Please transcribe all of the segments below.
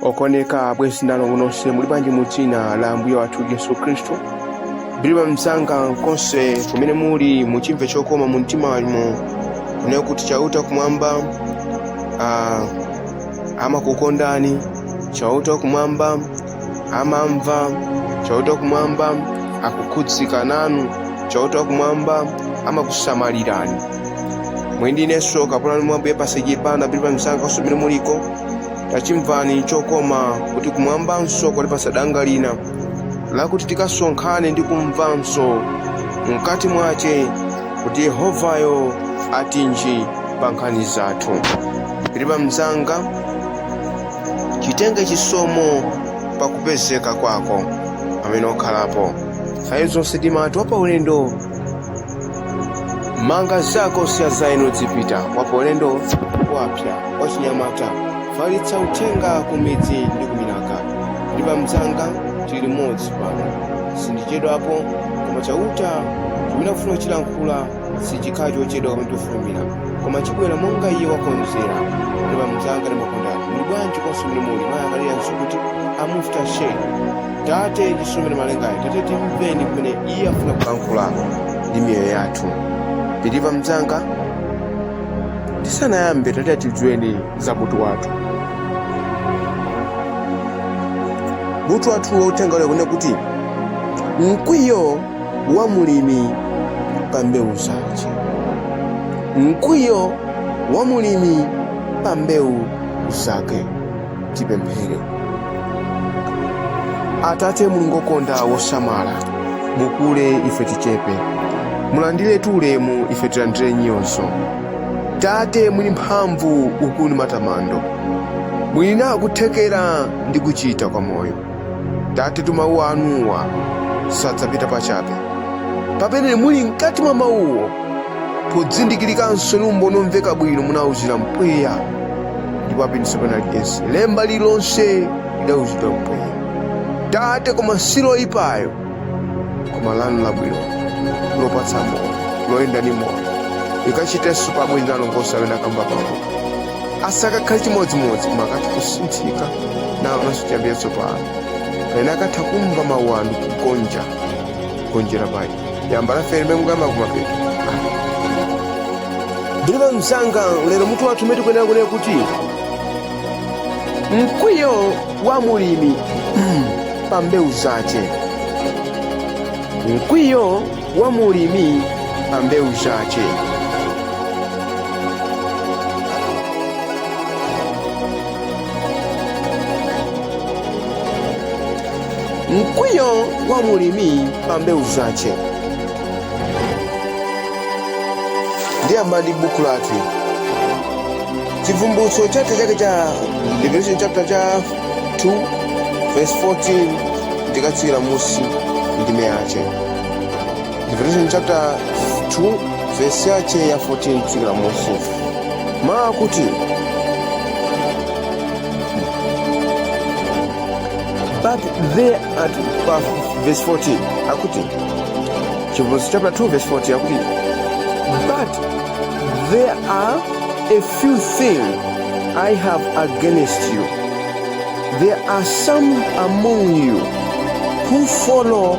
okondeka abwenzi ndi alongo nonse muli bwanji mu dzina la ambuye wathu yesu khristu believer mzanga konse kumene muli muchimve chokoma mu mtima wanu kunena kuti chauta kumwamba ah, amakukondani chauta kumwamba amamva chauta kumwamba akukhudzika nanu chauta kumwamba amakusamalirani muli ndi inenso kapolo wanu mwa ambuye pasiki pano believer mzanga konse kumene muliko tachimvani chokoma kuti kumwambanso kwatipatsa danga lina lakuti tikasonkhane ndi kumvanso mkati mwace kuti yehovayo atinji pa nkhani zathu believer mzanga chitenge chisomo pa kupezeka kwako pamene ukhalapo nthawi zonse timati wapaulendo manga zako siya zaino dzipita wapaulendo wapsa wachinyamata falitsa uthenga ku midzi ndi kuminaka believer mzanga tili limodzi pano sindichedwapo koma chauta chimene akufuna kuchilankhula sichikhala chochedwa koma chofulumira koma chibwera monga iye wakonzera believer mzanga ndimakukondani muli bwanji konse kumene muli mayangalira nsukuti amufta she tate ndinso mbuye namalengayo tate timveni kumene iye afuna kulankhula ndi miyoyo yathu believer mzanga tisanayambe tate atidziweni za mutu wathu mutu wathu wa uthenga lero kunena kuti mkwiyo wa mulimi pa mbewu zace mkwiyo wa mulimi pa mbewu zake tipemphere atate mulungu okonda wosamala mukule ife tichepe mulandiretu ulemu ife tilandire nyozo tate mwini mphamvu ukulu matamando muli nako kuthekera ndi kuchita kwa moyo tatetu mawu anuwa sadzapita pachabe pamene muli mkati mwa mawuwo podzindikirikanso ndi umboni omveka bwino munawuzira mpweya ndipo apindulitsa penalikense lemba lililonse lidawuzidwa mpweya tate koma si loyipayo koma lanu labwino lopatsa moyo loyenda ndi moyo likachitenso pa abwenzi ndi alongo onse amene akamvapowo asakakhale chimodzimodzi koma akatha kusinthika naonanso chiyambi chatsopano pamene akatha kumva mawu anu kugonja kugonjera paye yamba lafe limene mukuyamba kumapeto believer mzanga lero mutu wathu umene tikuyenera kunena kuti mkwiyo wa mulimi pa mbewu zace mkwiyo wa mulimi pa mbewu zace. Mkwiyo wa mulimi pa mbewu zace. Ndiyamba ndi buku lathu. Chivumbutso chapter chake cha Revelation chapter cha 2 verse 14 ndi kutsira munsi ndime yace. Revelation chapter 2 verse yache ya 14 kufikira munsi mawu akuti but there ati pa verse 14 akuti chivumbulutso chapter 2 verse 14 akuti but there are a few things i have against you there are some among you who follow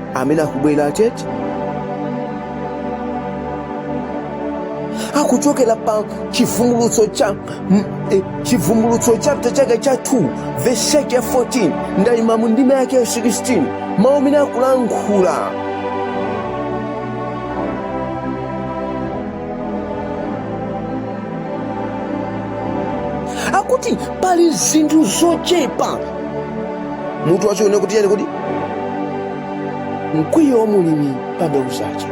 amene akubwera tete akuchokera pa chivumbulutso cha mm, eh, chivumbulutso chapter chake cha 2 verse yake ya 14 ndayima mu ndime yake ya 16 mawu amene akulankhula akuti pali zinthu zochepa mutu wacho une kuti chani kuti mkwiyo wa mulimi pa mbewu zace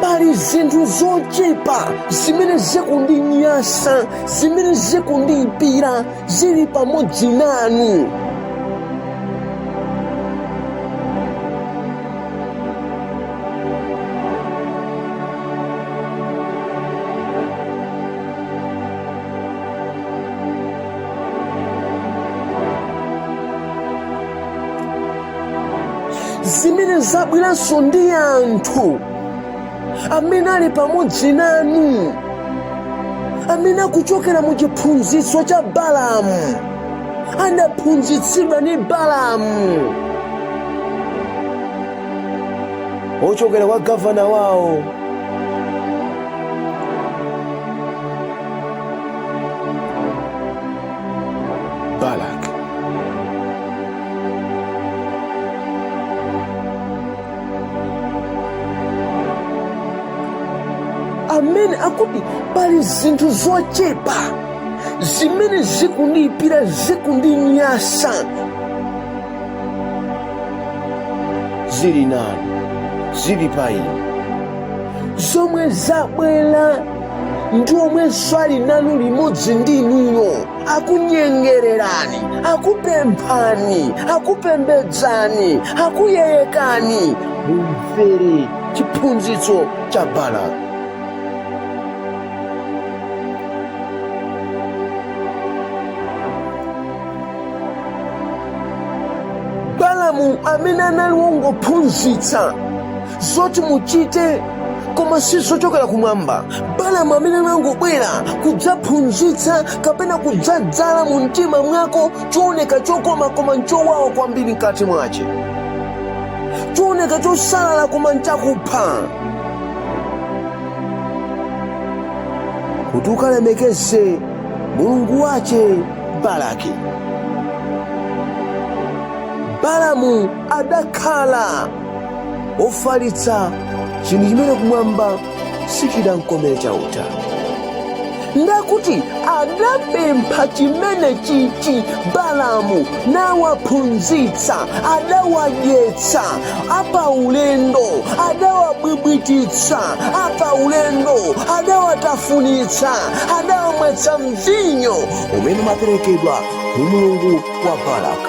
pali zinthu zochepa zimene zikundinyansa zimene zikundiyipira zili pamodzi nanu zimene zabweranso ndi anthu amene ali pamodzi nanu amene akuchokera mu chiphunzitso cha balamu anaphunzitsidwa ndi balamu ochokera kwa gavana wawo Balak. amene akuti pali zinthu zochepa zimene zikundiyipira zikundinyansa zili nanu zili pa inu zomwe zabwera ndi omwenso ali nanu limodzi ndi inuyo akunyengererani akupemphani akupembedzani akuyeyekani mumvere chiphunzitso cha balamu balamu amene anali wongophunzitsa zoti muchite koma si zochokera kumwamba balamu amene anangobwera kudzaphunzitsa kapena kudzadzala mu mtima mwako chooneka chokoma koma nchowawa kwambiri mkati mwache chooneka chosalala koma nchakupha kuti ukalemekeze mulungu wache balaki balamu adakhala wofalitsa chinthu chimene kumwamba sichidankomere chauta ndakuti adapempha chimene chichi balamu nawaphunzitsa adawadyetsa apaulendo adawabwibwititsa apaulendo adawatafunitsa adawamwetsa mvinyo umene umaperekedwa ku mulungu wa balaka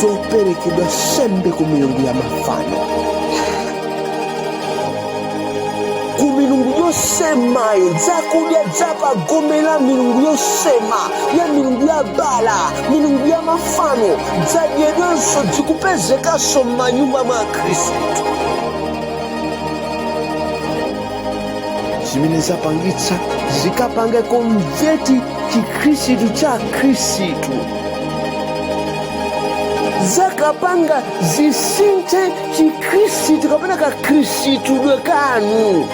zoperekedwa nsembe ku milungu ya mafano ku milungu yosemayo zakudya zapagome la milungu yosema ya milungu ya bala milungu ya mafano zadyedwenso zikupezekanso m'manyumba mwa akhristu zimene zapangitsa zikapange konveti chikhristu cha khristu zakapanga zisinthe chikhristu kapena kakhristidwe kanu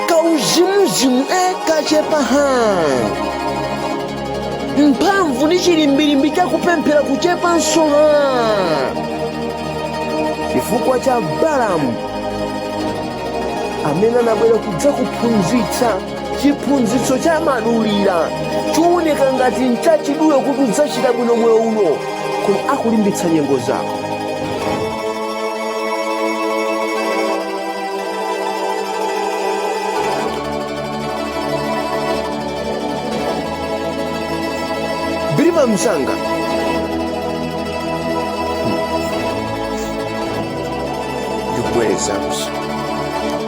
kauzimuzimu e kachepa ha mphamvu ndi chilimbilimbi chakupemphera kuchepanso ha chifukwa cha balamu amene anabwera kudzakuphunzitsa chiphunzitso cha madulira chooneka ngati nchachidule kuti udzachita bwino moyo uno koma akulimbitsa nyengo zako bilima msanga ndibwerezanso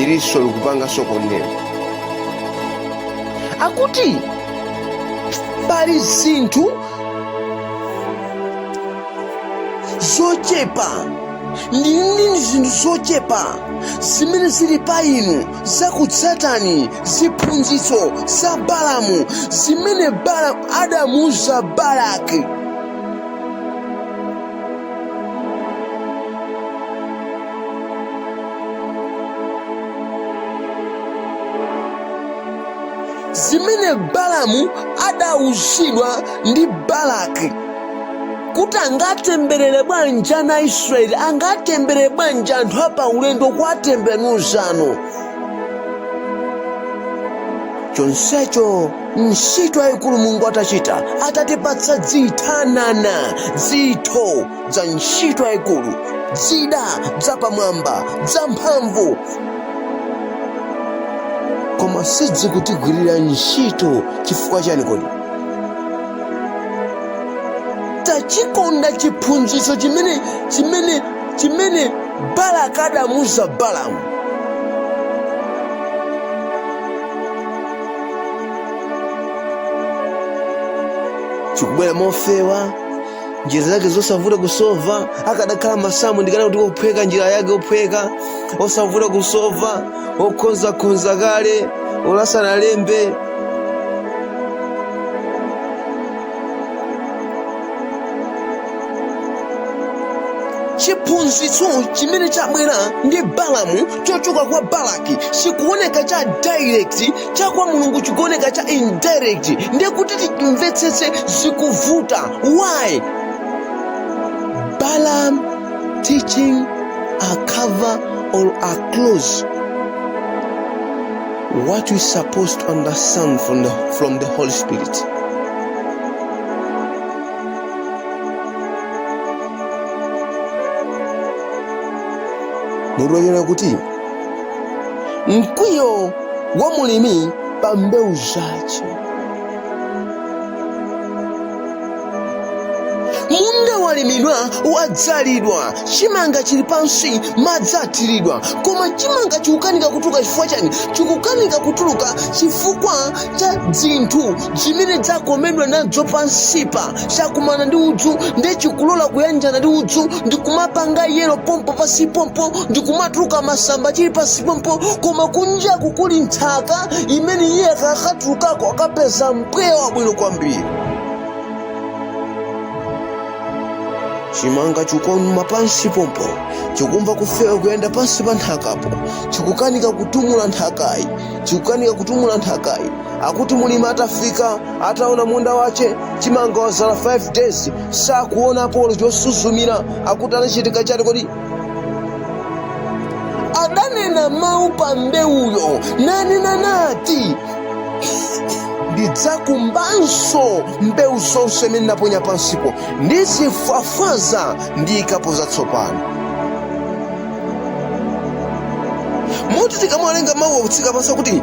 iriso likupanga sokonera akuti pali zinthu zochepa ndili ndi zinthu zochepa zimene zili pa inu zakutsatani ziphunzitso za balamu zimene balamu adamuuza balaki zimene balamu adawuzidwa ndi balaki kuti angatemberere bwanji ana aisraeli angatemberere bwanji anthu apaulendo kuwatemberera ndiye zanu chonsecho ntchito yayikulu mulungu atachita atatipatsa dzithanana dzitho dza ntchito yayikulu dzida dzapamwamba dzamphamvu koma sidzikutigwirira ntchito chifukwa chani kodi tachikonda chiphunzitso chimene chimene chimene balaki adamuuza balamu chikubwera mofewa njira zake zosavuta kusova akadakhala masamu ndikanati ophweka njira yake ophweka osavuta kusova okhonzakhonza kale olasanalembe chiphunzitso chimene chabwera ndi balamu chochoka kwa balaki chikuoneka cha direct cha kwa mulungu chikuoneka cha indirect ndiye kuti timvetsetse zikuvuta why balaam teaching a cover or a close what we supposed to understand from the holy spirit mulungu anena kuti mkwiyo wa mulimi pa mbewu zache munda walimidwa wadzalidwa chimanga chili pansi madzi athiridwa koma chimanga chikukanika kutuluka chifukwa chani chikukanika kutuluka chifukwa cha dzinthu dzimene dzakomedwa nadzo pansipa chakumana ndi udzu nde chikulola kuyanjana ndi udzu ndikumapanga yelo pompo pasi pompo ndikumatuluka masamba chili pasi pompo koma kunjaku kuli nthaka imene iye akakatulukako akapeza mpweya wabwino kwambiri chimanga chikuumuma pansi pompo chikumva kufewa kuyenda pansi pa nthakapo chikukanika kutumbula nthakayi chikukanika kutumbula nthakayi akuti mulimi atafika ataona munda wace chimanga wazala 5 days sakuonapo olo chosuzumira akuti anachita chani kodi adanena mawu pa mbewuyo nanena nati ndidzakumbanso mbewu zonse zimene ndaponya pansipo ndizifafaza ndiikapo zatsopano moti tikamawerenga mawu akutsika pansi akuti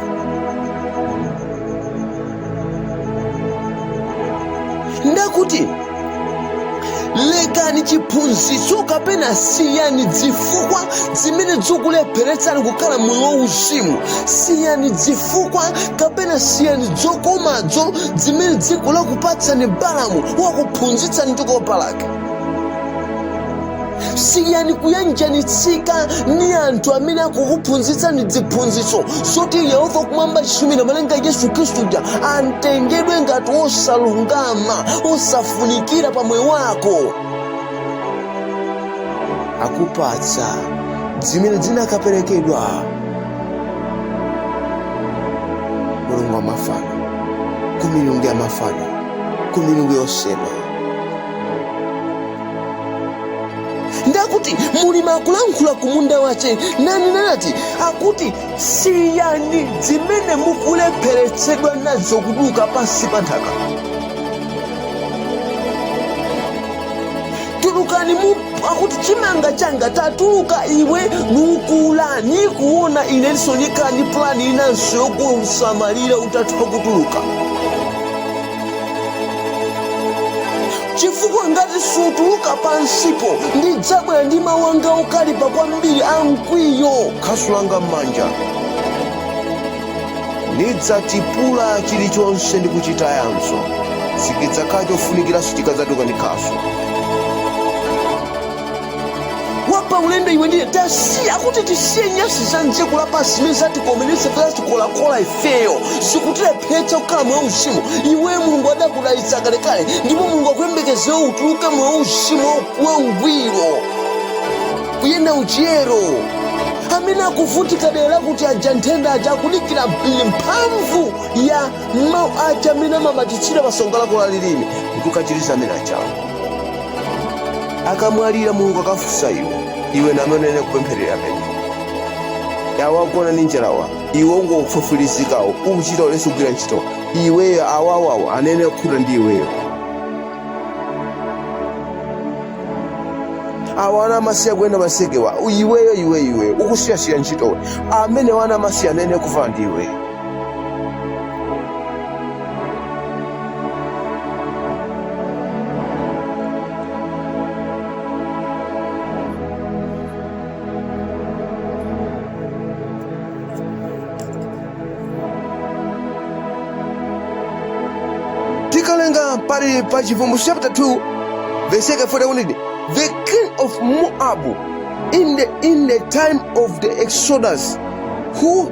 nde akuti lekani chiphunzitso kapena siyani zifukwa zimene zikulepheretsani kukhala moyo wauzimu siyani zifukwa kapena siyani zokomazo zimene dziko lakupatsani balamu wakuphunzitsani ndi kopa lake siyani kuyanjanitsika ni anthu amene akukuphunzitsani dziphunzitso zoti yehova kumwamba chisumphi namalenga yesu khristu ja antengedwe ngati osalungama osafunikira pa moyo wako akupatsa zimene zinakaperekedwa mulungu wa mafano ku milungu ya mafano ku milungu yosema nde akuti mulimi akulankhula ku munda wace nanena nati akuti siyani zimene mukulepheretsedwa nazo kutuluka pansi pa nthaka tulukani mu akuti chimanga changa tatuluka iwe nukula nikuona inenso nikhale ni plani inanso yokusamalira utatha kutuluka chifukwa ngati sutuluka pansipo ndidzabwera ndi mawu anga okalipa kwambiri a mkwiyo khasu langa m'manja ndidzatipula chilichonse ndi kuchitayanso sichidzakhala chofunikiranso chikadzatuluka ndi khasu wapa ulendo iwe ndiye tasiya kuti tisiye nyasi za mdziko lapansi zimene zatikomeresa zatikolakola ifeyo zikutilephetsa kukhala moyo wauzimu iweyo mulungu adakudalitsa kalekale ndipo mulungu akuyembekezera utuluke moyo wauzimu wangwiro kuyenda mchiyero amene akuvutika dera kuti aja nthenda aja akudikira mbiri mphamvu ya mawu aja amene amabatitsira pansonga lako la lilime ndikukachiriza amene achawo akamwalira mulungu akafunsa iwe iwe namenene kupempherera amene awagona ndi njalawa iwe ungofufulizikawo ukuchita ulesi kugwira ntchito iweyo awawawo anene kukhuta ndi iweyo awo ana amasiye kuyenda masekewa iweyo iweyo iweyo ukusiyasiya ntchitowe amene ana amasiye anene kuvala ndi iweyo tikawerenga pali pa chivumbulutso chapter 2 verse yake 14 iti, the king of moab in the, in the time of the exodus who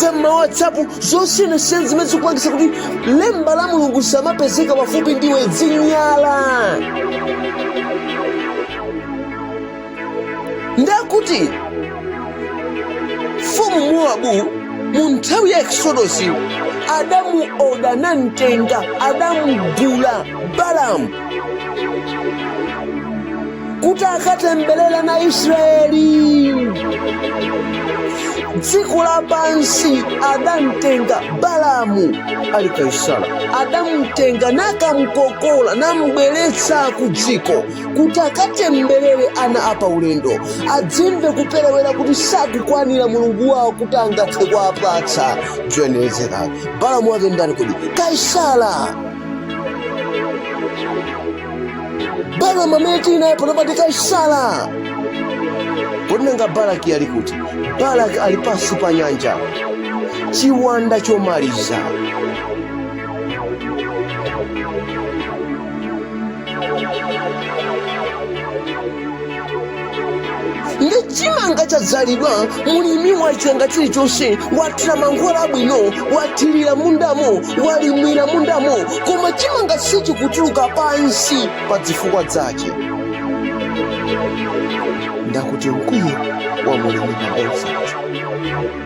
za mma WhatsApp zosiyanasiyana zimene zikupangisa kuti lemba la mulungu lisamapezeke pafupi ndiwe zinyala ndakuti mfumu Mowabu mu nthawi ya eksodosi adamuoda namutenga adamugula Balamu kuti akatemberere ana a Israeli dziko lapansi adamtenga Balamu ali Kaisara adamtenga nakamkokola nambweretsa ku dziko kuti akatemberere ana apa ulendo adzimve kuperewera kuti sakukwanira mulungu wawo kuti angathe kuwapatsa zoyenerezeka Balamu wake ndani kodi Kaisara Balamu amene tili naye pano pati Kaisara kodi nanga Balaki ali kuti Balaki ali pansi pa nyanja chiwanda chomaliza ndi chimanga chadzalidwa mulimi wachita chilichonse wathira mankhwala abwino wathirira mundamo walimira mundamo koma chimanga sichikutuluka pansi pa zifukwa zake ndakuti mkwiyo wa mulimi pa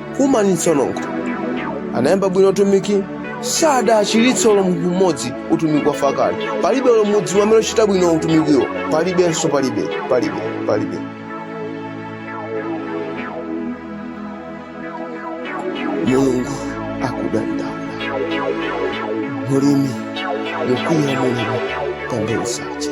kumanitsonongo anayamba bwino utumiki sadaachiritse olo munthu mmodzi utumiki wa fakale palibe olo mmodzi amene achita bwino utumikiwo palibenso palibe palibe palibe mulungu akudandaula mulimi mukwiya mulimi pambewu zace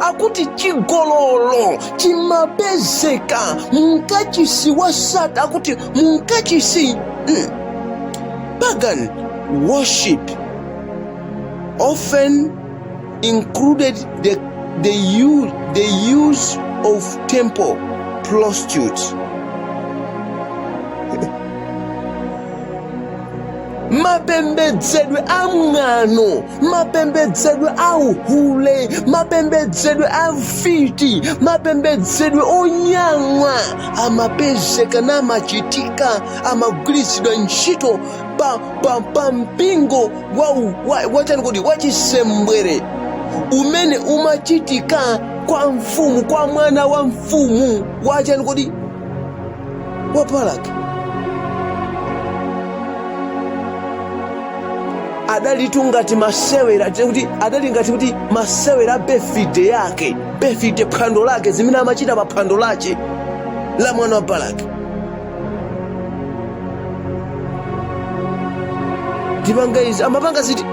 akuti chigololo chimapezeka mumkachisi wa sata akuti mumkachisi mm, pagan worship often included the, the use of temple prostitutes mapembedzedwe a mwano mapembedzedwe a uhule mapembedzedwe a mfiti mapembedzedwe onyang'wa amapezeka n'kumachitika amagwiritsidwa ntchito pa, pa, pa mpingo wa, u- wa, wachani kuti wachisembwere umene umachitika kwa mfumu kwa mwana wa mfumu wachani kuti wa Balak adalitu ngati masewera kuti adali ngati kuti masewera a befide yake befide phwando lake zimene amachita pa phwando lace la mwana wa Balak tipanga izi amapanga ziti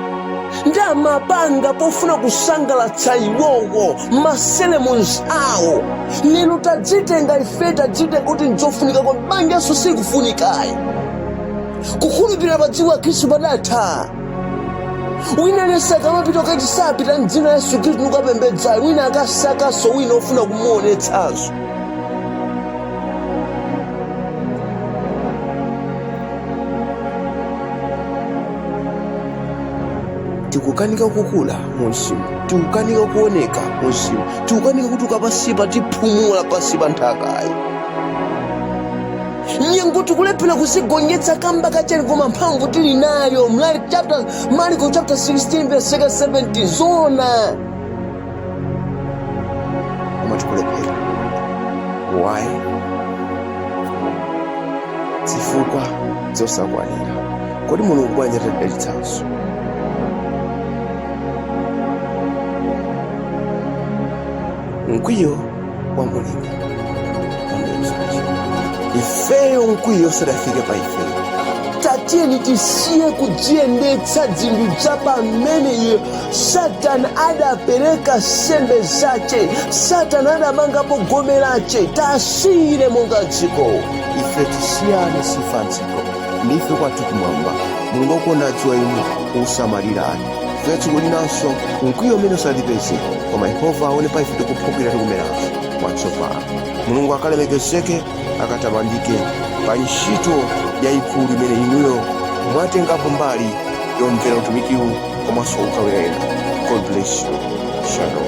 ndi zimene amapanga pofuna kusangalatsa iwowo maseremons awo lero tadzitenga ife tadzitenga kuti nzofunika kwa banjanso sikufunikayi kukhulupirirana pa dziko la khristu padatha wina nayenso akamapita ukati sapita mdzina la yesu khristu nukapembedzayo wina akasakanso wina ofuna kumuonetsazo tikukanika kukula mumzimu tikukanika kuoneka mumzimu tikukanika kuti ukapansipa tipumula pansi pa nthakayi nyengo tikulephera kuzigonjetsa kamba ka chani koma mphamvu tili nayo mlali chapter mariko chapter 16 verse 17 zona koma tikulephera why zifukwa zosakwanira Kodi Mulungu bwanji atidalitsanso? Mkwiyo wa Mulungu ifeyo mkwiyo usadafike pa ifeyo tatiyeni tisiye kudziyendetsa dzinthu za pamene iye satana adapereka sembe zace satana adamangapo gome lace tasiyire monga dziko ife tisiyane si ife a dziko ndife kwathu kumwamba mulungu akuona adziwa inu kusamalira anu dziko linanso mkwiyo umene usatipeze koma yehova aone pa ife tikuphukira tikumeranso mwatsopano mulungu akalemekezeke akatamandike pa ntchito yayikulu imene inuyo mwatengapo mbali yomvera utumikiwu komanso kugawira ena god bless you shalom